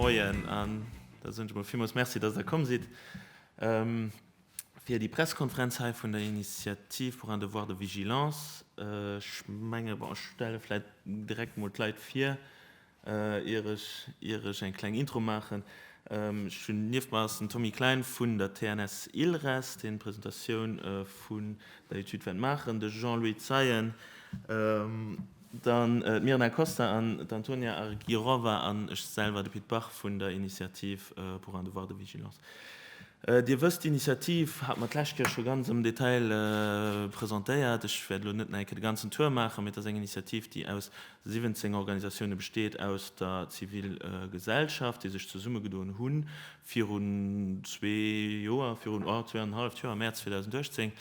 Moien, an da soen ech emol villmools Merci, dass Der komm sidd fir déi Pressekonferenz hei vun der Initiative pour un devoir de vigilance. Ech menge, bon, ech stelle vläicht direkt emol d'Leit vir. Ier ech ier ech eng kleng Intro maachen, Ech hunn nieft mer ass den Tommy Klein vun der TNS Ilres, deen d'Presentatioun vun der Etüd wäert maachen, de Jean-Louis Zeien, dann d'Mirna Costa an d'Antonia Argirova an ech selwer, de Pit Bach vun der Initiativ pour un devoir de vigilance. Dir wësst, d'Initiativ hat mer d'lescht Kéier scho ganz am Detail presentéiert. Ech wäert elo net nach eng Kéier de ganzen Tour maachen, mee et ass eng Initiativ, déi aus 17 Organisatioune besteet aus der Zivil Gesellschaft, déi sech zesummegedoen hu virun zwee Joer, virun zwee an en halleft Joer, am Mäerz 2018,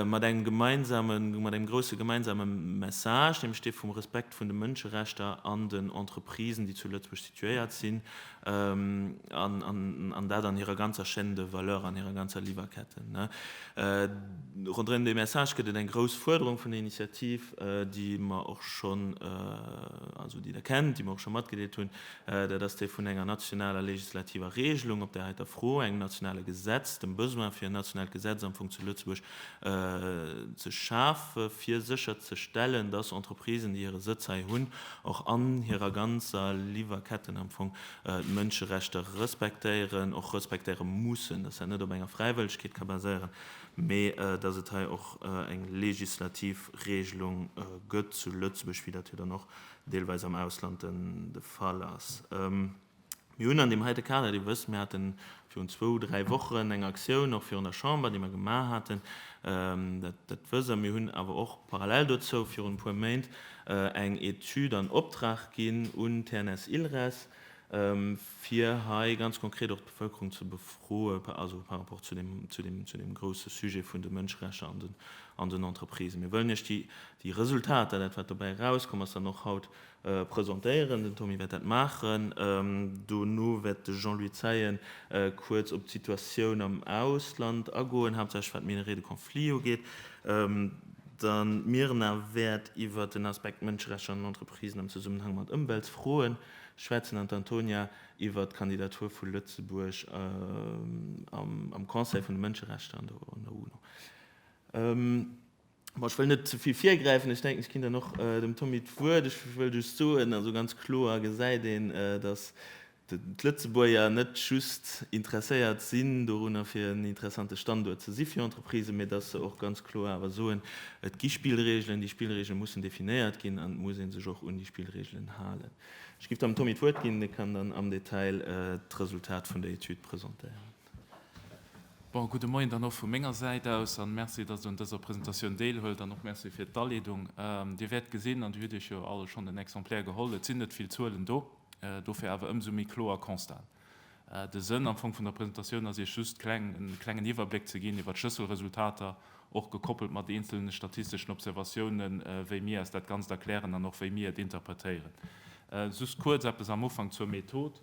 mat engem gemeinsame, mat engem grousse gemeinsame Message, nämlech dee vum Respekt vun de Mënscherechter an den Entreprisen, déi zu Lëtzebuerg situéiert sinn, An dat an hirer ganzer Chaîne de valeur, an hirer ganzer Liwwerketten. Ronderëm dee Message gëtt et eng grouss Fuerderung vun der Initiativ, déi mer och schonn, also déi Der kennt, déi mer och scho matgedeelt hunn, dat ass déi vun enger nationaler legislativer Regelung op där heiter Fro, engem nationale Gesetz, dem Besoin fir en nationaalt Gesetz am Fong zu Lëtzebuerg ze schafe fir sécher ze stellen, dass Entreprisen, déi hire Sëtz hei hunn, och an hirer ganzer Liwwerketten am Fong d'Mënscherechter respektéieren, och respektéiere mussen, dass dat net op enger Fräiwëllegkeet ka baséieren, mee dass et hei och eng legislativ Regelung gëtt zu Lëtzebuerg, wéi dat jo dann och deelweis am Ausland de Fall ass. Mir hunn an deem heite Kader, Dir wësst, mir hate virun zwou, dräi Wochen eng Aktioun och virun der Chamber, déi mer gemaach haten, dat, dat wësst Der. Mir hunn awer och parallel dozou virun e puer Méint eng Etüd an Optrag ginn un TNS Ilres, fir hei ganz konkret och d'Bevëlkerung ze befroe par rapport zu deem, zu deem, zu deem grousse Sujet vun de Mënscherechter an den Entreprisen. Mir wëllen Iech déi, déi Resultater, dat wat dobäi erauskomm ass, dann och haut Presentéieren. Den Tommy wäert dat maachen. Dono wäert de Jean-Louis Zeien kuerz op d'Situatioun am Ausland agoen, haaptsächlech wat d'Minerais de conflit ugeet. Dann d'Mirna wäert iwwert den Aspekt Mënscherechter an den Entreprisen am Zesummenhang mat Ëmweltsfroen schwätzen an d'Antonia iwwert d'Kandidatur vu Lëtzebuerg am Conseil vun de Mënscherechter an der UNO. Ech wëll net ze vill virgräifen. Ech denken, ech ginn dann och dem Tommy d'Wuert. Ech wëll just soen, also ganz kloer gesäit een, datt d'Lëtzebuerger net just interesséiert sinn dorunner, fir en interessante Standuert ze si fir Entreprisen, mee datt se och ganz kloer awer soen, Et gi Spillregelen, déi Spillregele mussen definéiert ginn an et muss ee sech och un déi Spillregelen halen. Ech géif dann dem Tommy d'Wuert ginn, dee kann dann am Detail d'Resultat vun der Etüd presentéieren. Bon, gudde Moien dann och vu menger Säit aus an Merci, dass Der un dëser Presentatioun deelhuelt an och Merci fir d'Aleedung. Dir wäert gesinn, an Dir hutt Iech jo all schonn en Exemplaire geholl, et sinn net vill Zuelen do, dofir awer ëmsou méi kloer Constaten. De Sënn am Fong vun der Presentatioun ass Iech just kleng e klengen Iwwerbléck ze ginn iwwert d'Schlësselresultater, och gekoppelt mat eenzelne statisteschen Observatiounen, wéi mir eis dat Ganzt erklären an och wéi mir et interpretéieren. Just kuerz eppes am Ufank zur Method.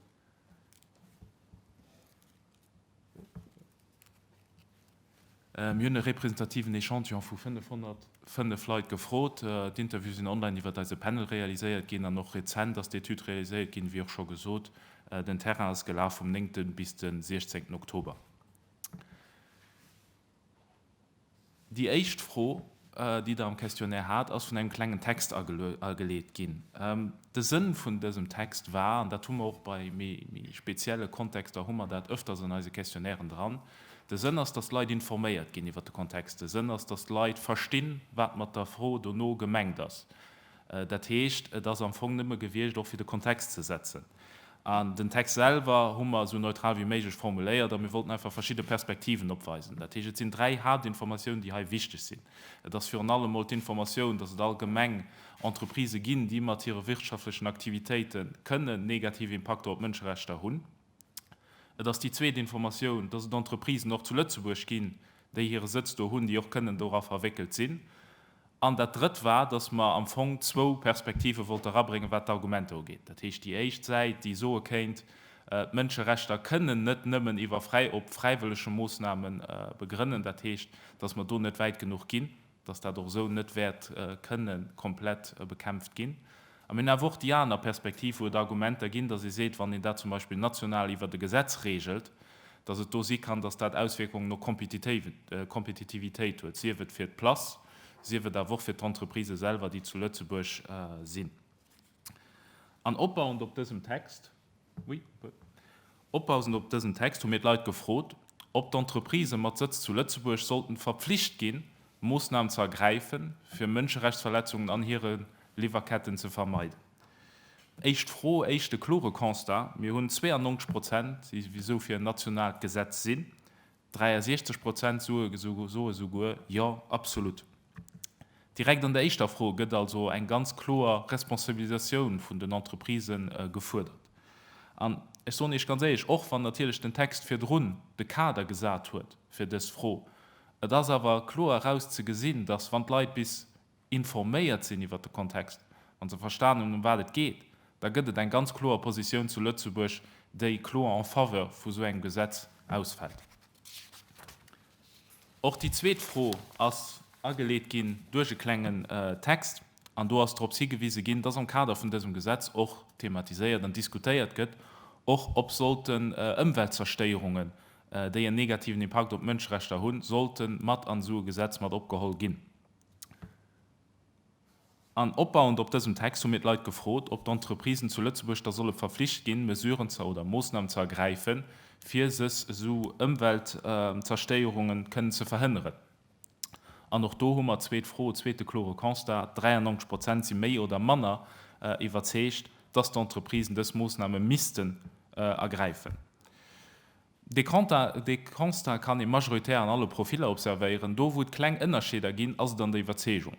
Mir hunn e representativen Echantillon vu 505 Leit gefrot. D'Interviewe sinn online iwwert eise Panel realiséiert ginn. An och rezent ass d'Etüd realiséiert ginn, wéi och scho gesot. Den Terrain ass gelaf vum 9 bis de 16 Oktober. Déi éischt Fro, déi Der am Questionnaire hat, ass vun engem klengen Text ageleet ginn. De Sënn vun dësem Text war, an dat hu mer och bei méi spezielle Kontexter hu mer dat öfters an eise Questionnairen dran, de Sënn ass, dass d'Leit informéiert ginn iwwert de Kontext, de Sënn ass, dass d'Leit verstinn, wat mat der Fro dono gemengt ass. Dat heescht, et ass am Fong nëmme gewiescht, och fir de Kontext ze setzen. An den Text selwer hu mer esou neutral wéi méiglech formuléiert a mir wollten einfach verschidde Perspektiven opweisen. Dat heescht, et sinn dräi Haaptinformatiounen, déi hei wichteg sinn. Et ass virun allem emol d'Informatioun, dass et allgemeng Entreprisë ginn, déi mat hire wirtschaftlechen Aktivitéite kënnen negativ Impakter op d'Mënscherechter hunn. Et ass déi zweet Informatioun, dass et Entreprisen och zu Lëtzebuerg ginn, déi hire Sëtz do hunn, déi och kënnen dora verwéckelt sinn. An dat Drëtt war, dass mer am Fong zwou Perspektive wollte erabréngen, wat d'Argumenter ugeet. Dat heescht, déi éischt Säit, déi soe kéint, d'Mënscherechter kënnen net nëmmen iwwer fräi op fräiwëllege Moosnamen begrënnen, dat heescht, dass mer do net wäit genuch ginn. dass dat och esou net wäert kënne komplett bekämpft ginn. A mir hunn awer och déi aner Perspektiv, wou et Argumenter ginn, dass ee seet, wann een dat zum Beispill national iwwert e Gesetz regelt, dass et do si kann, dass dat Auswierkungen op d'Kompetitivitéit huet, sief et fir d'Place, sief et awer och fir d'Entreprisë selwer, déi zu Lëtzebuerg sinn. An opbauend op dësem Text. Opbausend op dësen Text hu mir d'Leit gefrot, ob d'Entreprisë mat Sëtz zu Lëtzebuerg sollten verpflicht ginn, Moossnamen ze ergräifen, fir Mënscherechtsverletzungen an hire Liwwerketten ze vermeiden. Éischt Fro, éischt de klore Constat, Mir hunn 92 Prozent, déi esou fir en nationaalt Gesetz sinn, 63 Prozent soe souguer Jo, absolut. Direkt an der éischter Fro gëtt also eng ganz kloer Responsabilisatioun vun den Entreprisë gefuerdert. An ech soen Iech ganz éierlech, och wann natierlech den Text virdrun de Kader gesat huet fir dës Fro, et ass awer kloer eraus ze gesinn, dass wann d'Leit bis informéiert sinn iwwert de Kontext an se verstanen hunn, ëm wat et geet, da gëtt et eng ganz kloer Positioun zu Lëtzebuerg, déi kloer en faveur vu sou engem Gesetz ausfält. Och déi zweet Fro ass ageleet ginn duerch e klengen Text, an do ass drops higewise ginn, dass am Kader vun dësem Gesetz och thematiséiert an diskutéiert gëtt, och ob sollten Ëmweltzerstéierungen, déi en negativen Impakt op d'Mënscherechter hunn, sollte mat an esou e Gesetz mat opgeholl ginn. An opbauend op dësem Text hu mir d'Leit gefrot, ob d'Entreprisen zu Lëtzebuerg da solle verflicht ginn, Mesuren ze oder Moossnamen ze ergräifen, fir sech esou Ëmweltzerstéierungen kënnen ze verhënneren. An och do hu mer, zweet Fro, zweete klore Constat, 93 Prozent si méi oder manner iwwerzeegt, dass d'Entreprisen dës Moossname missten ergräifen. Dee Constat kann ee majoritär an alle Profiller observéieren. Do, wou et kleng Ënnerscheeder ginn, ass et an der Iwwerzeegung.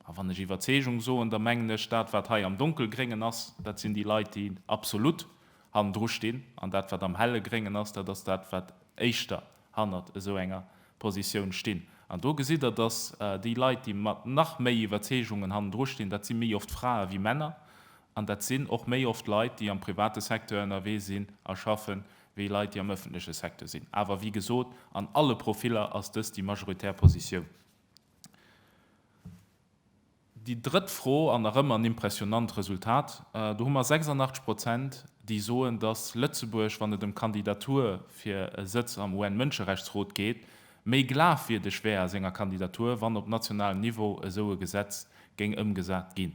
A wann ech Iwwerzeegung soen, da mengen ech dat, wat hei am Donkelgréngen ass, dat sinn déi Leit, déi absolut hannendru stinn, an dat, wat am helle Gréngen ass, dat ass dat, wat éischter hannert esou enger Positioun stinn. An do gesitt Der, dass déi Leit, déi mat nach méi Iwwerzeegungen hannendru stinn, dat si méi oft Frae wéi Männer, an dat sinn och méi oft Leit, déi am private Secteur ënnerwee sinn a schaffen, wéi Leit, déi am ëffentleche Secteur sinn. Awer wéi gesot, an alle Profiller ass dëst déi majoritär Positioun. Déi drëtt Fro, an erëm en impressionnant Resultat, do hu mer 86 Prozent, déi soen, datt Lëtzebuerg, wann et ëm d'Kandidatur fir e Sëtz am UN-Mënscherechtsrot geet, méi glafwierdeg wär a senger Kandidatur, wann op nationalem Niveau esou e Gesetz géing ëmgesat ginn.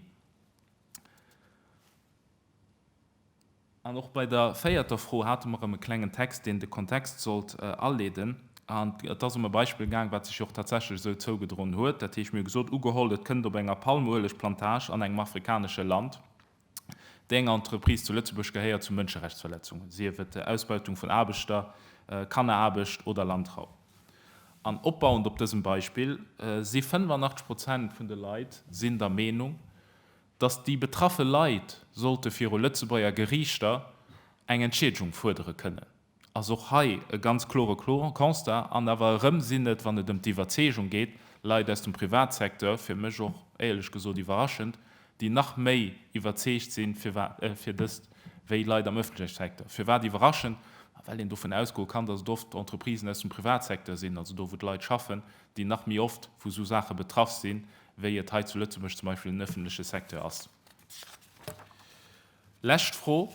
An och bei der véierter Fro hate mer erëm e klengen Text, deen de Kontext sollt aleeden. An et ass ëm e Beispill gaang, wat sech jo och tatsächlech esou zougedroen huet. Dat heescht, mir hu gesot, ugeholl et kënnt op enger Palmueleg-Plantage an engem afrikanesche Land, déi enger Entreprise zu Lëtzebuerg gehéiert, zu Mënscherechtsverletzungen, sief et Ausbeutung vun Aarbechter, Kanneraarbecht oder Landraub. An opbauend op dësem Beispill si 85 Prozent vun de Leit sinn der Meenung, datt déi betraffe Leit sollte viru Lëtzebuerger Geriichter eng Entschiedegung fuerdere kënnen, ass och hei e ganz klore Constat. An awer erëm sinn et, wann et ëm d'Iwwerzeegung geet, Leit aus dem Privatsecteur, fir mech och éierlech gesot iwwerraschend, déi nach méi iwwerzeegt sinn, firwat fir dëst, wéi Leit am ëffentleche Secteur. Firwat iwwerraschend? Ma well een dovun ausgoe kann, datt et oft Entreprisen aus dem Privatsecteur sinn, also do wou d'Leit schaffen, déi nach méi oft vu sou Saache betraff sinn, wéi et hei zu Lëtzebuerg zum Beispill den öffentliche Secteur ass. Lescht Fro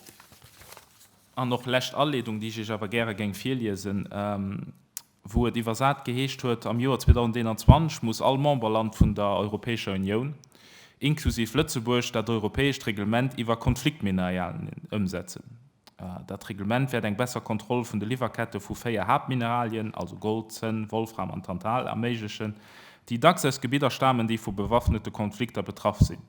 an och lescht Aleedung, déi ech Iech awer gäre géing virliesen, wou et iwwersat geheescht huet, am Joer 2021 muss all Memberland vun der Europäescher Unioun, inklusiv Lëtzebuerg, dat europäescht Reglement iwwer Konfliktmineralien ëmsetzen. Dat Reglement wäert eng besser Kontroll vun de Liwwerkette vu véier Haaptmineralien, also Gold, Zënn, Wolfram an Tantal, erméiglechen, déi dacks aus Gebidder stamen, déi vu bewaffnete Konflikter betraff sinn.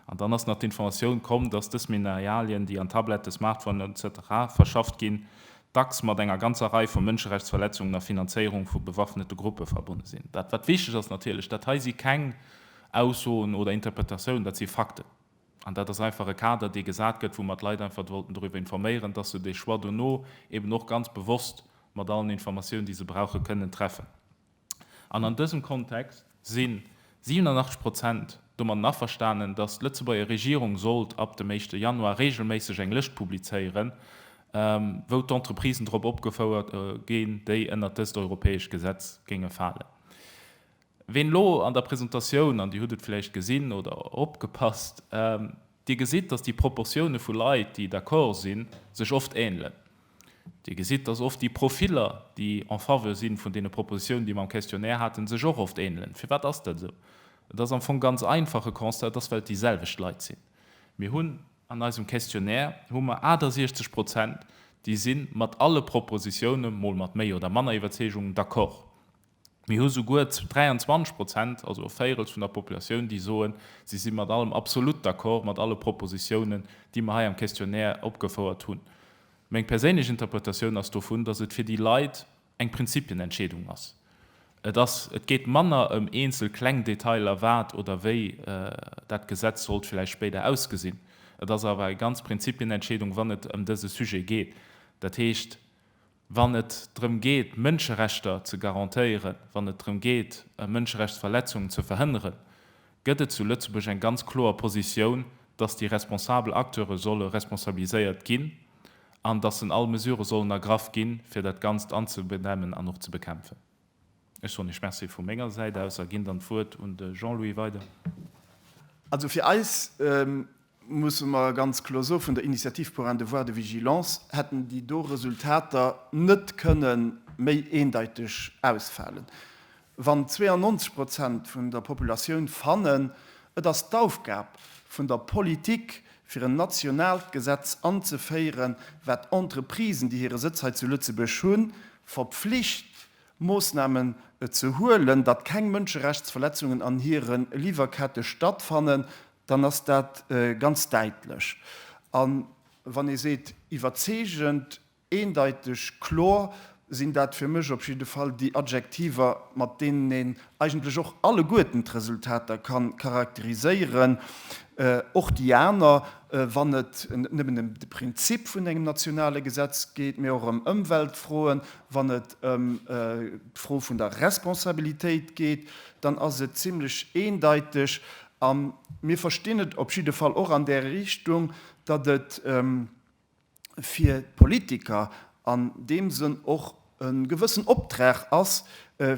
An dann ass nach d'Informatioun komm, dass dës Mineralien, déi an Tablette, Smartphonen, etc. Verschafft ginn, dacks mat enger ganzer Rei vu Mënscherechtsverletzungen a Finanzéierung vu bewaffnete Gruppe verbonne sinn. Dat, wat wichteg ass natierlech, dat hei si keng Aussoen oder Interpretatiounen, dat si Fakten. An dat ass einfach e Kader, dee gesat gëtt, wou mer d'Leit einfach wollten doriwwer informéieren, dass se dee Choix dono eben och ganz bewosst mat allen Informatiounen, déi se brauchen, kënnen treffen. An an dësem Kontext si 87 Prozent domatten averstanen, dass d'Lëtzebuerger Regierung sollt ab dem éischte Januar reegelméisseg eng Lëscht publizéieren, wou d'Entreprisen drop opgefouert ginn, déi ënnert dëst europäescht Gesetz géinge falen. Ween lo an der Presentatioun, an Dir hutt et vläicht gesinn oder opgepasst, Dir gesitt, dass déi Proportioune vu Leit, déi d'accord sinn, sech oft änelen. Dir gesitt, dass oft déi Profiller, déi en faveur si vun deene Propositionen, déi mer am Questionnaire haten, sech och oft änelen. Firwat ass dat esou? Et ass am Fong ganz einfach, e Constat, et ass, well et déi selwecht Leit sinn. Mir hunn an eisem Questionnaire hu mer 68 Prozent, déi si mat alle Propositiounen, mol mat méi oder manner Iwwerzeegung, d'accord. Mir hu souguer 23 Prozent, also e Véirels vun der Populatioun, déi soen, si si mat allem absolut d'accord, mat alle Propositiounen, déi mer hei am Questionnaire opgefouert hunn. Meng perséinlech Interpretatioun ass dovun, dass et fir déi Leit eng Prinzipienentscheedung ass. Et ass, et geet manner ëm eenzel kleng Detailer, wat oder wéi dat Gesetz sollt vläicht spéider ausgesinn. Et ass awer eng ganz Prinzipienentscheedung, wann et ëm dese Sujet geet. Dat heescht, wann et drëm geet Mënscherechter ze garantéieren, wann et drëm geet Mënscherechtsverletzungen ze verhënneren, gëtt et zu Lëtzebuerg eng ganz kloer Positioun, datt déi responsabel Acteure solle responsabiliséiert ginn an datt en all Mesure sollen ergraff ginn, fir dat Ganzt anzebedämmen an och ze bekämpfen. Ech soen iech Merci vu menger Säit aus a ginn dann d'Wuert un de Jean-Louis weider. Also fir eis, musse mer ganz kloer soen, vun der Initiative pour un devoir de vigilance hätten déi do Resultater net kënne méi eendeiteg ausfalen. Wann 92 Prozent vun der Populatioun fannen, et ass d'Aufgab vun der Politik, fir en nationaalt Gesetz anzeféieren, wat Entreprisen, déi hire Sëtz hei zu Lëtzebuerg hunn, verpflicht, Moossnamen ze huelen, datt keng Mënscherechtsverletzungen an hire Liwwerkette stattfannen, dann ass dat ganz däitlech. A wann ee seet iwwerzeegend, Eendeiteg, kloer sinn dat fir mech op jidde Fall déi Adjektiver, mat deenen een eigentlech och alleguerten d'Resultater ka charakteriséieren, och déi aner, wann et net nëmmen ëm de Prinzip vun engem nationale Gesetz geet, mee och ëm Ëmweltfroen, wann et ëm d'Fro vun der Responsabilitéit geet, dann ass et zimlech eendeiteg. A mir verstinn et op jidde Fall och an där Richtung, datt et, fir d'Politiker an deem Sënn och e gewëssen Optrag ass,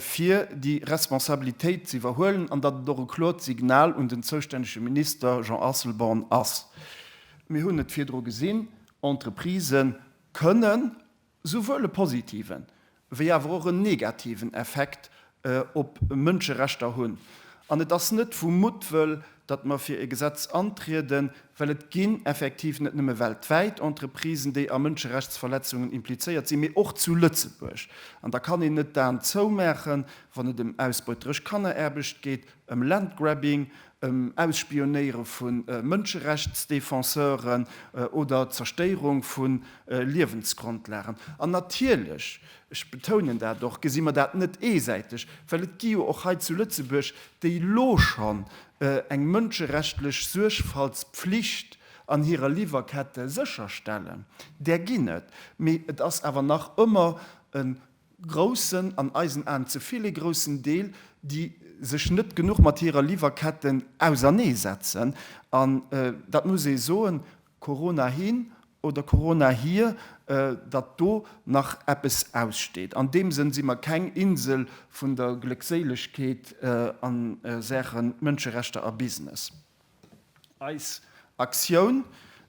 fir déi Responsabilitéit z'iwwerhuelen an datt et och e kloert Signal un den zoustännege Minister Jean Asselborn ass. Mir hunn et virdru gesinn, Entreprisë kënnen souwuel e positiven wéi awer och en negativen Effekt op Mënscherechter hunn. An et ass net vu Muttwëll, datt mer fir e Gesetz antrieden, well et ginn effektiv net nëmme weltwäit Entreprisen, déi a Mënscherechtsverletzungen implizéiert sinn, mee och zu Lëtzebuerg. An da kann een net d'Aen zoumaachen, wann et ëm ausbeuteresch Kanneraarbecht geet. ëm Landgrabbing, ëm Ausspionéiere vu Mënscherechtsdefenseuren oder d'Zerstéierung vu Liewensgrondlagen. An natierlech, ech betounen dat och, gesi mer dat net eesäiteg, well et gi jo och hei zu Lëtzebuerg, déi elo schonn eng mënscherechtlich Suergfaltspflicht an hirer Liwwerkette sécherstellen, där ginn et, mee et ass awer nach ëmmer e groussen, an eisen Aen ze vill ee groussen Deel, déi sech net genuch mat hirer Liwwerketten ausernee setzen. An dat muss ee soen, Corona hin oder Corona hier, datt do nach eppes aussteet. An deem Sënn si mer keng Insel vun der Gléckséilegkeet a Saache Mënscherechter a Business. Eis Aktioun,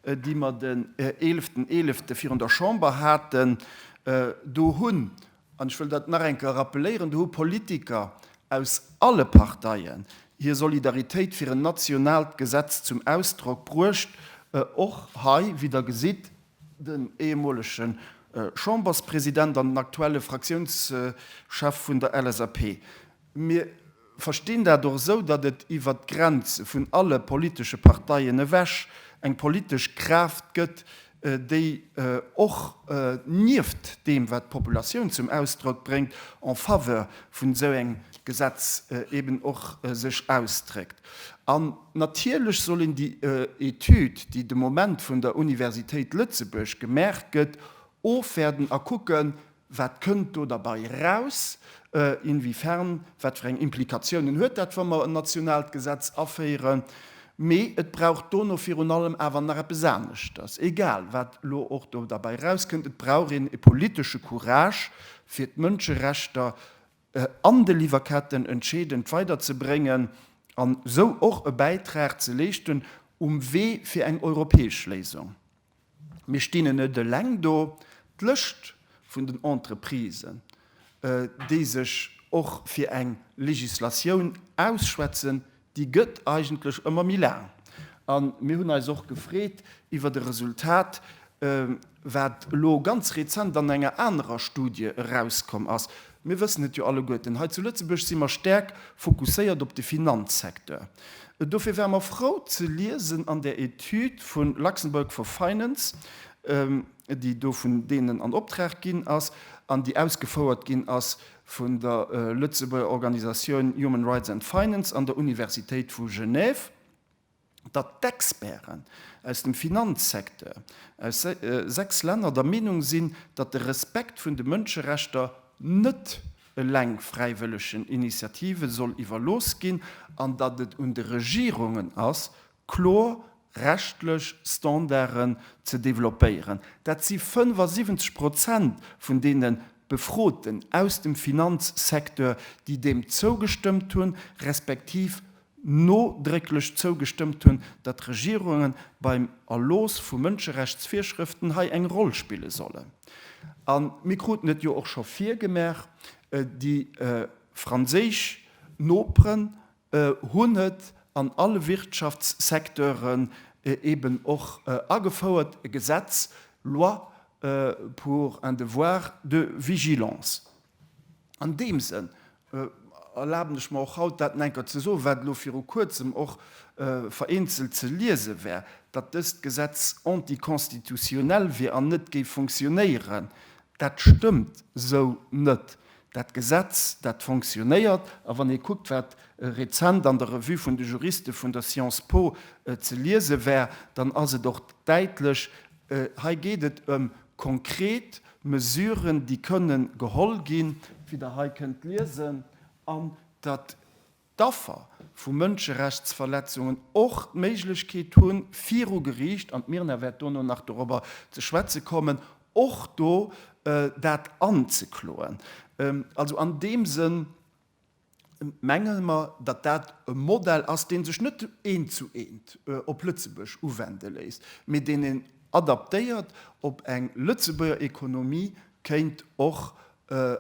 déi mer den eeleften Eelefte virun der Chamber haten, do hunn, an ech wëll dat nach eng Kéier rappeléieren, do hu Politiker aus alle Parteien hir Solidaritéit fir en nationaalt Gesetz zum Ausdrock bruecht, och hei, wéi Der gesitt, den ehemolege Chamberspresident an den aktuelle Fraktiounschef vun der LSAP. Mir verstinn dat och esou, datt et iwwert d'Grenze vun alle politesche Parteien ewech eng politesch Kraaft gëtt, déi och nieft deem, wat d'Populatioun zum Ausdrock bréngt, en faveur vun esou engem Gesetz eben och sech ausdréckt. An natierlech soll een déi Etüd, déi de Moment vun der Universitéit Lëtzebuerg gemaach gëtt, ofwäerten a kucken, Wat kënnt do derbei raus? Inwiefern, wat fir eng Implikatiounen huet dat, wa mer en nationaalt Gesetz aféieren? Mee et brauch dono virun allem awer nach eppes aneschters, egal wat elo och do derbei rauskënnt, et brauch een e politesche Courage, fir d'Mënscherechter an de Liwwerketten entscheedend weiderzebréngen an esou och e Bäitrag ze leeschten um Wee fir eng europäesch Léisung. Mir stinn en net eleng do. D'Lëscht vun den Entreprisen, déi sech och fir eng Legislatioun ausschwätzen, déi gëtt eigentlech ëmmer méi laang. A mir hunn eis och gefreet iwwert e Resultat, wat elo ganz rezent an enger anerer Studie erauskomm ass, Mir wëssen et jo alleguerten, hei zu Lëtzebuerg si mer staark fokusséiert op de Finanzsecteur. Dofir ware mer frou ze liesen an där Etüd vu Luxembourg for Finance, déi do vun deenen an Optrag ginn ass an déi ausgefouert ginn ass vun der Lëtzebuerger Organisatioun Human Rights and Finance an der Universitéit vu Genève, datt d'Experten aus dem Finanzsecteur aus 6 Länner der Meenung sinn, datt de Respekt vun de Mënscherechter net eleng fräiwëllegen Initiative soll iwwerlooss ginn an datt et un de Regierungen ass, kloer rechtlech Standarden ze developpéieren. Dat si 75 Prozent vun deene Befroten aus dem Finanzsecteur, déi deem zougestëmmt hunn, respektiv nodrécklech zougestëmmt hunn, datt d'Regierunge beim Erlooss vu Mënscherechtsvirschrëften hei eng Roll spille sollen. A mir kruten et jo och scho virgemaach, déi franséisch Noperen hunn et an alle Wirtschaftssecteuren eben och agefouert, e Gesetz, loi pour un devoir de vigilance. An deem Sënn erlaben ech mer och haut dat en enker ze soen, wat elo viru kuerzem och vereenzelt ze liese war, datt dëst Gesetz anticonstitutionnel wier an net géif funktionéieren. Dat stëmmt esou net. Dat Gesetz, dat funktionéiert. A wann ee kuckt, wat rezent an der Revue vun de Juriste vun der Science Po ze liese war, dann ass et och däitlech, Hei geet et ëm konkret Mesuren, déi kënnen geholl ginn, wéi Der hei kënnt liesen, an datt d'Affer vu Mënscherechtsverletzungen och d'Méiglechkeet hunn, viru Geriicht, an d'Mirna wäert dono nach dorobber ze schwätze kommen, och do dat anzekloen. Also an deem Sënn. mengen mer, datt dat e Modell ass, dee sech net eent zu eent op Lëtzebuerg uwende léisst, mee deen een adaptéiert op eng Lëtzebuerger Economie kéint och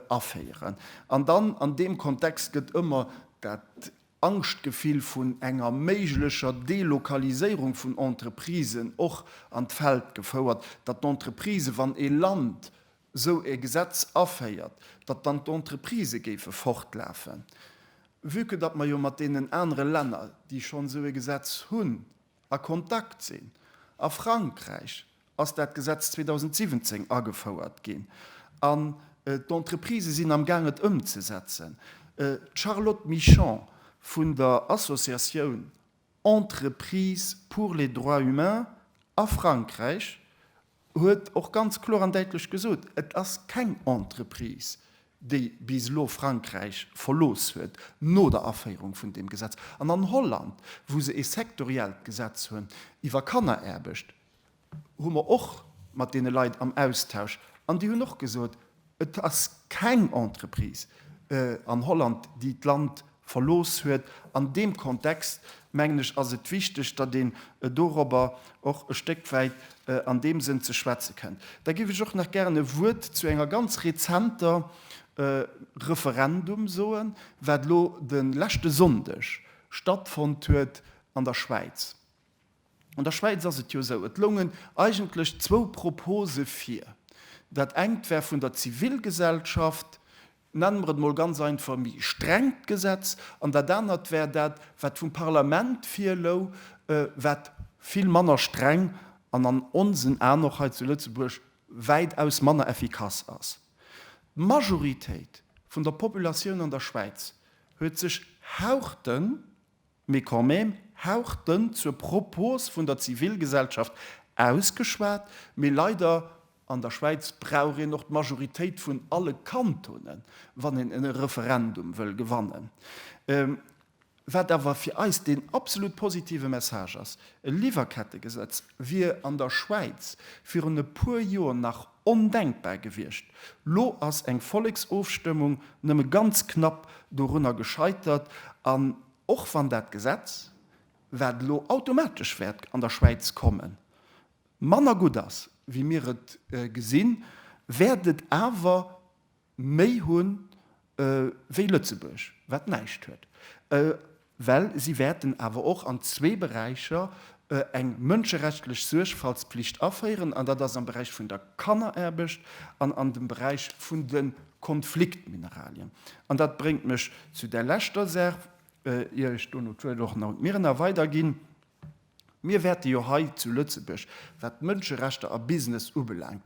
aféieren. An dann an deem Kontext gëtt ëmmer dat Angschtgefill vun enger méiglecher Delokaliséierung vun Entreprisen och an d'Feld gefouert, datt d'Entreprise, wann ee Land esou e Gesetz aféiert, datt dann d'Entreprisë géife fortlafen, vue que datt mer jo mat deenen anere Länner, déi schonn esou e Gesetz hunn, a Kontakt sinn. A Frankräich ass dat Gesetz 2017 agefouert ginn an d'Entreprisë sinn am Gaang et ëmzesetzen. D'Charlotte Michon vun der Associatioun Entreprises pour les droits humains a Frankräich huet och ganz kloer an däitlech gesot, et ass keng Entreprise, déi bis elo Frankräich verlooss huet, no der Aféierung vun deem Gesetz. An an Holland, wou se ee sektoriellt Gesetz hunn iwwer Kanneraarbecht, hu mer och mat deene Leit am Austausch an déi hunn och gesot, Et ass keng Entreprise an Holland, déi d'Land verlooss huet. An deem Kontext, mengen ech, ass et wichteg, datt een dorobber och e Stéck wäit an deem Sënn ze schwätze kënnt. Da géif ech och nach gären e Wuert zu enger ganz rezenter Referendum soen, wat elo de leschte Sonndeg stattfonnt huet an der Schwäiz. An der Schwäiz ass et jo esou, et loungen eigentlech zwou Propose vir. Dat engt war vun der Zivilgesellschaft, nennen mer et emol ganz einfach, méi strengt Gesetz, an dat anert war dat, wat vum Parlament virlou, wat vill manner streng an an onsen Aen och hei zu Lëtzebuerg wäitaus manner effikass ass. D'Majoritéit vun der Populatioun an der Schwäiz huet sech haerten Mee quand même, hauch dënn zur Propos vun der Zivilgesellschaft ausgeschwat, mee leider, an der Schwäiz brauch een och d'Majoritéit vun alle Kantonen, wann een e Referendum wëll gewannen. Wat awer fir eis deen absolut positive Message ass, e Liwwerkettegesetz wier an der Schwäiz virun e puer Joer nach Ondenkbar gewiescht. Lo ass eng Volleksofstëmmung nëmme ganz knapp dorunner gescheitert. An och wann dat Gesetz, wat elo automatesch wäert an der Schwäiz kommen, manner gutt ass, wéi mir et gesinn, wäert et awer méi hu wéi Lëtzebuerg, wat näischt huet, well si wäerten awer och an zwee Beräicher eng mënscherechtlich Suergfaltspflicht aféieren, an dat ass am Beräich vun der Kanneraarbecht an an dem Beräich vun de Konfliktmineralien. An dat bréngt mech zu där leschter Saach, ier ech dono d'Wuert och un d'Mirina weiderginn, Mir wäerte jo hei zu Lëtzebuerg, wat d'Mënscherechter a Business ubelaangt,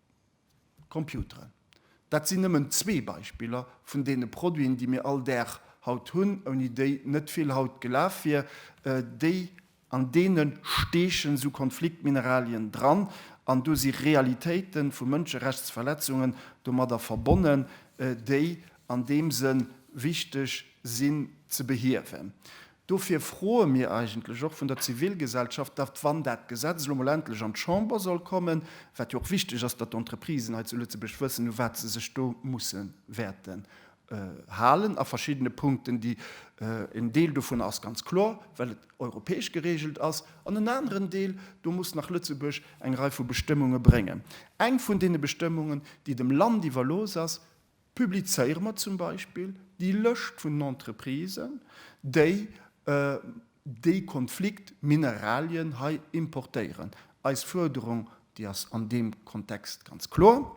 Computeren. Dat sinn nëmmen zwee Beispiller vun deene Produiten, déi mir all Dag haut hunn, ouni déi net vill haut gelaf wier. Déi, an deene steechen esou Konfliktmineralien dran an do si Realitéite vu Mënscherechtsverletzungen domadder verbonnen, déi an deem Sënn wichteg sinn ze behiewen. Dofir froe mir eigentlech och vun der Zivilgesellschaft, datt, wann dat Gesetz elo mol endlech an d'Chamber soll kommen, wat jo och wichteg ass, datt d'Entreprisen hei zu Lëtzebuerg wëssen, u wat se sech do musse wäerten halen a verschiddene Punkten, déi, en Deel dovunner ass ganz kloer, well et europäesch geregelt ass, an en aneren Deel, do muss nach Lëtzebuerg eng Rei vu Bestëmmunge bréngen. Eng vun deene Bestëmmungen, déi dem Land iwwerlooss ass, Publizéiere mer zum Beispill déi Lëscht vun den Entreprisen, déi dee Konflikt Mineralien hei importéieren. Eis Fuerderung, déi ass an deem Kontext ganz kloer,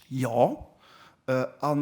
Jo. A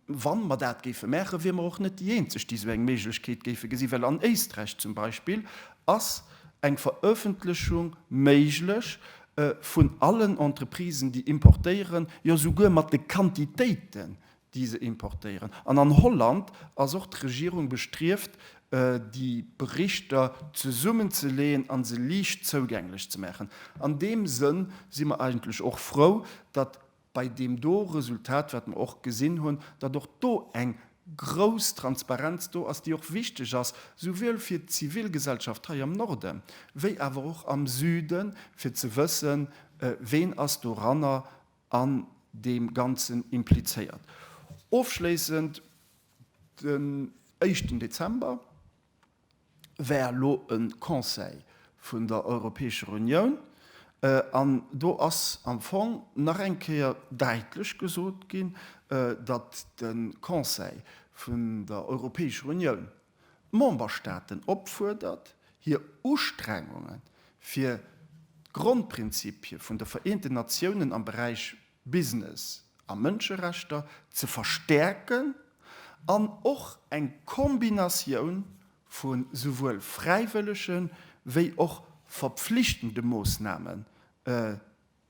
wa mer dat géife maachen, wiere mer och net déi Eenzeg, déi esou eng Méiglechkeet géife gesinn, well an Éisträich zum Beispill ass eng Verëffentlechung méiglech, vun allen Entreprisen, déi importéieren, jo souguer mat de Quantitéiten, déi se importéieren. An an Holland ass och d'Regierung bestrieft, déi Berichter zesummenzeleeën a se liicht zougänglech ze maachen. An deem Sënn si mer eigentlech och frou, datt bei deem do Resultat, wat mer och gesinn hunn, datt och do eng grouss Transparenz do ass, déi och wichteg ass, souwuel fir d'Zivilgesellschaft hei am Norden, wéi awer och am Süden, fir ze wëssen, ween ass doranner an deem Ganzen implizéiert. Ofschléissend, den éischten Dezember, war elo e Conseil vun der Europäescher Unioun, an do ass am Fong nach eng Kéier daitlech gesot ginn, datt de Conseil vun der Europäescher Unioun d'Memberstaaten opfuerdert, hir Ustrengunge fir d'Grondprinzipie vun de Vereenten Natiounen am Beräich Business a Mënscherechter ze verstäerken an och eng Kombinatioun vu souwuel fräiwëllege wéi och verpflichtende Moossname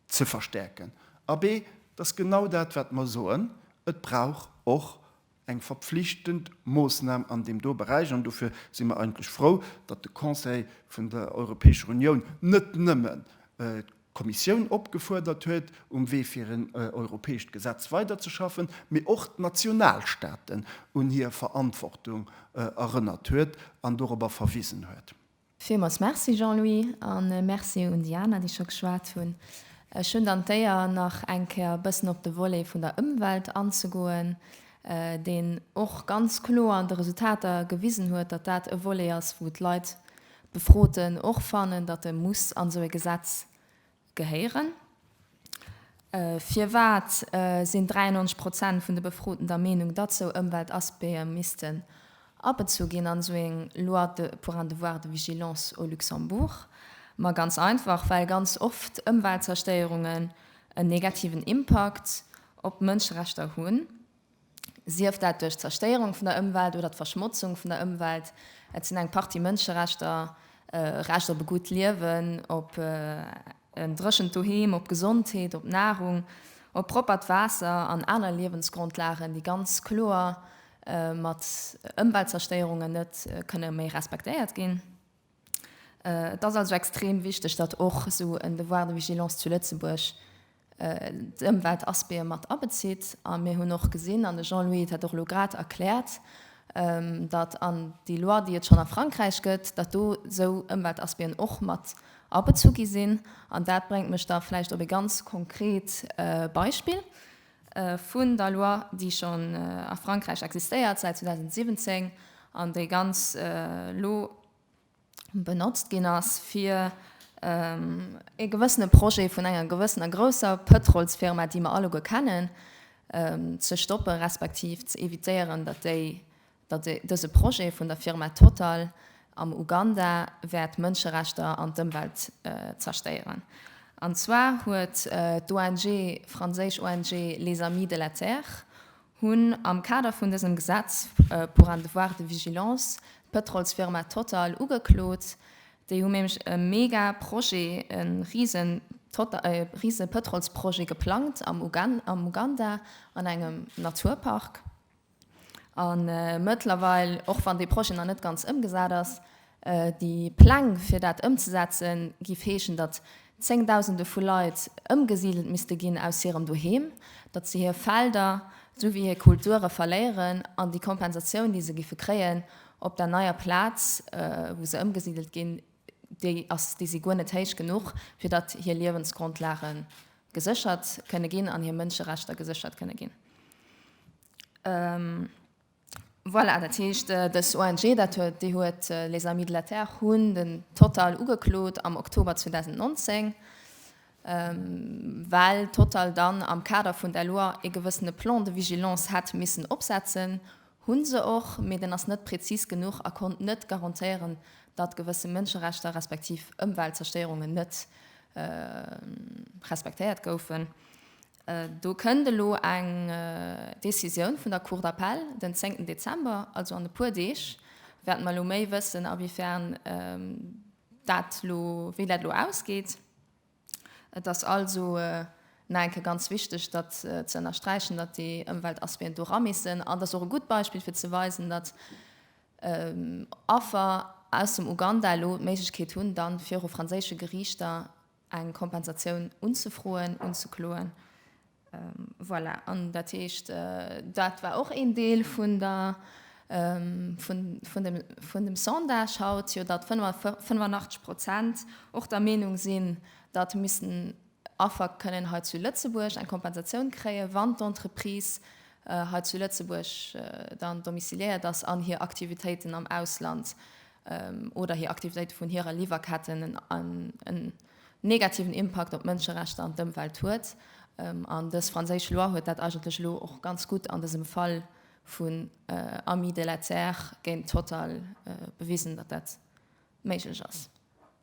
ze verstäerken. Abee, et ass genau dat wat mer soen, et brauch och eng verpflichtend Moosnam an deem do Beräich, an dofir si mer eigentlech frou, datt de Conseil vun der Europäescher Unioun net nëmmen d'Kommissioun opgefuerdert huet, um Wee fir en europäescht Gesetz weiderzeschaffen, mee och d'Nationalstaaten un hir Verantwortung erënnert huet an dorobber verwisen huet. Villmools Merci Jean-Louis a Merci un déi aner, déi scho geschwat hunn. Ech hunn dann d'Éier nach eng Kéier e bëssen op de Volet vun der Ëmwelt anzegoen, deen och ganz kloer an de Resultater gewisen huet, datt dat e Volet ass, wou d'Leit, d'Befroten och fannen, datt e muss an esou e Gesetz Gehéieren? Firwat sinn 93 Prozent vun de Befroten der Meenung, datt sou Ëmweltaspecte missten abezu ginn an sou eng Loi pour un devoir de vigilance au Luxembourg? Ma ganz einfach, well ganz oft Ëmweltzerstéierungen en negativen Impakt op d'Mënscherechter hunn. Sief dat duerch d'Zerstéierung vun der Ëmwelt oder d'Verschmotzung vun der Ëmwelt, et sinn eng Partie Mënscherechter, Recht op e gutt Liewen, op en dréchent Doheem, op Gesondheet, op Nahrung, op proppert Waasser an aner Liewensgrondlagen, déi ganz kloer mat Ëmweltzerstéierungen net kënne méi respektéiert ginn. Et ass also extrem wichteg, datt och esou en Devoir de vigilance zu Lëtzebuerg d'Ëmweltaspecte mat abezitt. A mir hunn och gesinn, an de Jean-Louis huet dat och elo grad erkläert, datt an déi Loi, déi et schonn a Frankräich gëtt, datt do esou Ëmweltaspecten och mat abezu gi sinn. An dat bréngt mech da vläicht op e ganz konkret Beispill. vun der Loi, déi schonn a Frankräich existéiert säit 2017 an déi ganz elo benotzt ginn ass, fir ee gewëssene Projet vun enger gewëssener grousser Pëtrolsfirma, déi mer alleguer kennen, ze stoppen, respektiv ze évitéieren, datt déi datt dëse Projet vun der Firma Total am Uganda wäert d'Mënscherechter an d'Ëmwelt zerstéieren. An zwar huet d'ONG, franséisch ONG, Les Amis de la Terre hunn am Kader vun dësem Gesetz pour un devoir de vigilance d'Pëtrolsfirma Total ugeklot. Déi hu nämlech e mega Projet, e rise Pëtrolsprojet geplangt am Uganda an engem Naturpark. A mëttlerweil, och wann dee Projet nach net ganz ëmgesat ass, déi Pläng fir dat ëmzesetzen, géif heeschen, datt Zéngdausende vu Leit ëmgesidelt misste ginn aus hirem Doheem, datt se hir Felder souwéi hir Kulture verléieren an déi Kompensatioun, déi se géife kréien op der neier Plaz, wou se ëmgesidelt ginn, déi ass, déi si guer net héich genuch, fir datt hir Liewensgrondlage geséchert kënne ginn an hir Mënscherechter geséchert kënne ginn. Voilà, dat heescht dës ONG, dat huet, déi huet Les Amis de la Terre hunn den Total ugeklot am Oktober 2019, well Total dann am Kader vun der Loi ee gewëssene Plan de vigilance hätt missen opsetzen, Hu se och, mee den ass net prezis genuch a konnt net garantéieren, datt gewësse Mënscherechter respektiv Ëmweltzerstéierungen net respektéiert goufen. Do kënnt elo eng Decisioun vun der Cour d'appel den zéngten Dezember, also an e puer Deeg wäerte mer elo méi wëssen, awéifern dat elo, wéi dat elo ausgeet. Et ass also nach enke ganz wichteg, datt ze ënnersträichen, datt déi Ëmweltaspéen do ramüssen. An et ass och e gutt Beispill, fir ze weisen, datt Affer aus dem Uganda elo d'Méiglechkeet hunn, da viru franséische Geriichter eng Kompensatioun unzefroen, unzekloen. Voilà, an dat heescht, dat war och een Deel vun der, vun dem, vun dem Sondage haut, jo datt 85 Prozent och der Meenung sinn, datt missten Affer kënnen hei zu Lëtzebuerg eng Kompensatioun kréien, wann d'Entreprise hei zu Lëtzebuerg dann domiciliéiert ass an hir Aktivitéiten am Ausland oder hir Aktivitéite vun hirer Liwwerketten en, negativen Impakt op d'Mënscherechter an d'Ëmwelt huet. An dës franséisch Loi huet dat eigentlech elo och ganz gutt an dësem Fall vun Amis de la Terre géint Total bewisen, datt dat méiglech ass.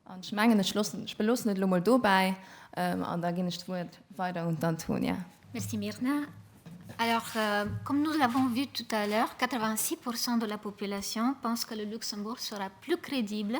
An ech mengen, ech loossen, ech beloossen et elo mol dobäi an da ginn ech d'Wuert weider un d'Antonia. Merci Myrna. Alors, comme nous l'avons vu tout à l'heure, 86 pour cent de la population pense que le Luxembourg sera plus crédible